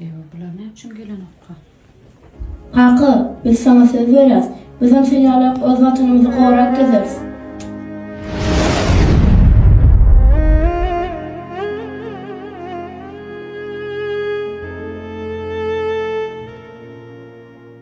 Ewa bular ne üçin gelenokka? Kaka, biz sana söz berýäs. Bizem sen ýaly öz watanymyzy gorap gezeris.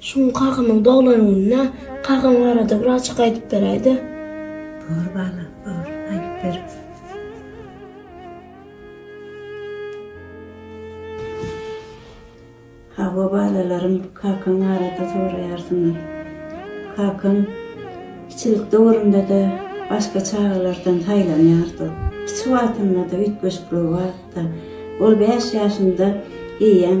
Şu gün kakamyň doglan gününe kakam barada bir açyk aýdyp beräýdä. Bor balam, bor, aýdyp bereris. Hawa balalarym, kakaň barada soraýarsyňyz. Kakam kiçilik döwründe-de başga çagalardan saýlanýardy. Kiçi wagtynda-da üýtgeşiklik bardy. Ol bäş ýaşynda eýýäm.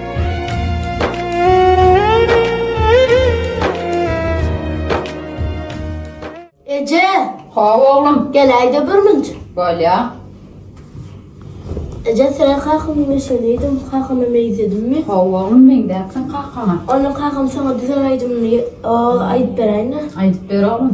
Eje, Hawa oglum, geläýde birmünç. bolýar. Eje, seýle kakamy meşeleýdim, kakama meýzedimmi? Hawa oglum, meňzäpsiň kakaňa. Onda kakam saňa düzen aýdymyny o, aýdyp beräýnä. Aýdyp ber oglum.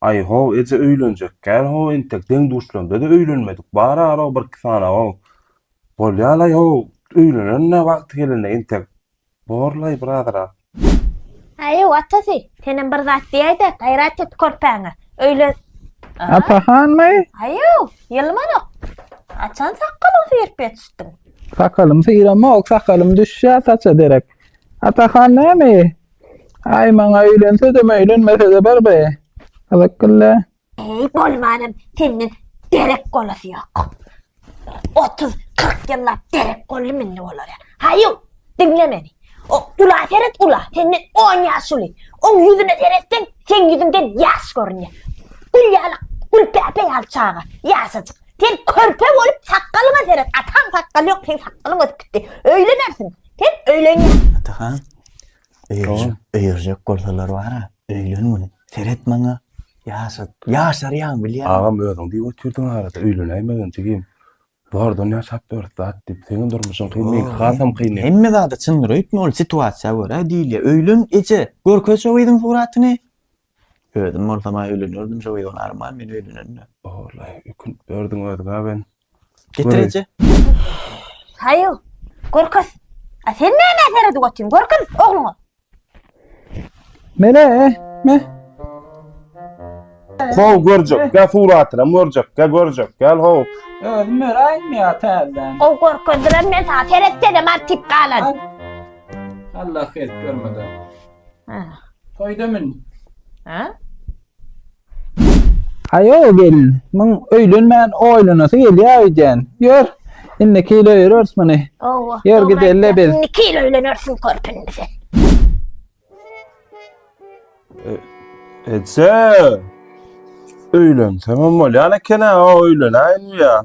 Aý-ho, eje öýlenjek kän-ho entek, deň-duşlarymda-da öýlenmedik, bar-ara birki sanaw-ow. Bolýa-laý-ho, öýlenerin-ä wagty gelende entek. Bor-laý bir azyrak. Aý-ho, atasy, senem bir zat diýäý-de, gaýrat et körpäňe. Öýlen. A-a. Atahanmy? Aý-ho, ýylmanok. Haçan sakgalyňy süýrüp ýetişdiň? Sakalym syramok, sakalym düşýä saça derek. Atahan näme? Ay maňa öýlensede möýlenmesede bir be. Gyzyk gylle. Eý bolmanam senden derek golasy ýok. Otuz, kyrk ýyllap derek golly mende olara. Haýu, diňle meni. O ula seret ula, senden on ýaş uly. Oň ýüzüne seretseň, seň ýüzüňden ýaş görünýär. Gül ýaly, gülpäpe ýaly çaga, ýaşajyk. Sen körpe bolup sakgalyňa seret, ataň sakgaly ýok, seň sakgalyň ösüp gitdi. Öýlenersiň, sen öýlenýän. Atahan, Öýerjek, öýerjek bolsalar bara, öýlen gün. Seret maňa. Ýaşat, ýaşarýaň bilýän. Agam özüň diýip otyrdyň arada öýlenäýmegin jigim. Bardan ýaşap ýörüs zat diýip. Seniň durmuşyň kyn, meňki hasam kyn. Hemme zada çyndyr öýtme, ol situasiýa görä diýilýär. Öýlen eje, görkez şo gyzyň suratyny. Özüm bolsam-a öýlenerdim şo wyon arman men öýlenende. Oglay ökünip berdiň özüňä ben. Getir eje. Haýu, görkez. A sen nämä seredip otyň, görkez ogluňa. Mele, me. How görjek, gel suratyna görjek, gel görjek, gel how. Özüm öräýdim ýa täzeden. How görkezdiler men saňa seretsenem artyp galan. Allah hert görmeden. Ha. Toýda mün. Ha? Aýo gelin, muň öýlenmän oýlanasy gelýär öýdýän. Ýör, indi kilo ýörürs muny. Owa. Ýör dogry gidelle aýtýaň. biz. Indi kilo öýlenersiň körpüni sen. Etse. Öýlensemem bolýan eken-ä, o öýlenäýin ya.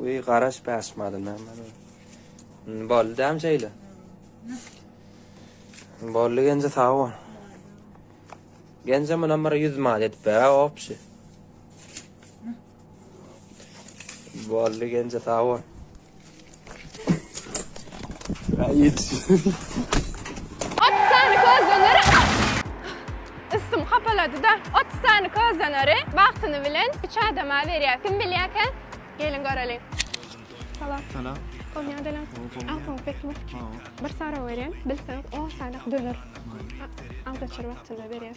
Uy garaş bäş maly näme? Boldy däm şeýle. Boldy genje sag bol. Genje mundan bir 100 mal edip ber, opşi. Boldy genje sag bol. Otuz sany közleneri Üstüm hapalady-da. Otuz sany közleneri wagtyny bilen üç adama berýär. Kim bilýär eken? Geliň göreliň. Salam. Salam. Gowy ýalyň. Aýtmaň pekmi? Bir sorag berýän, bilseň on sany döner. Aldaçar wagtynda berýär.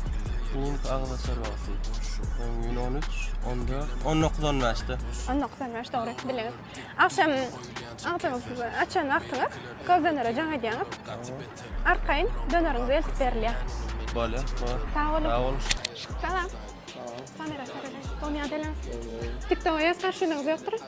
Ýeňiş agzaçar wagty. Öň gün 13, 14, 19, 15 de. 19, 15 dogry bildiňiz. Agşam agzyňyz açan wagtyňyz köz dönere jaň edýäňiz. Arkaýyn döneriňiz eltip berilýär. Bolýar. Sag boluň. Sag boluň. Salam. Salam. Kamera çekilen. Doňýa delen. TikTok-a ýaz garşylygyňyz ýokdur.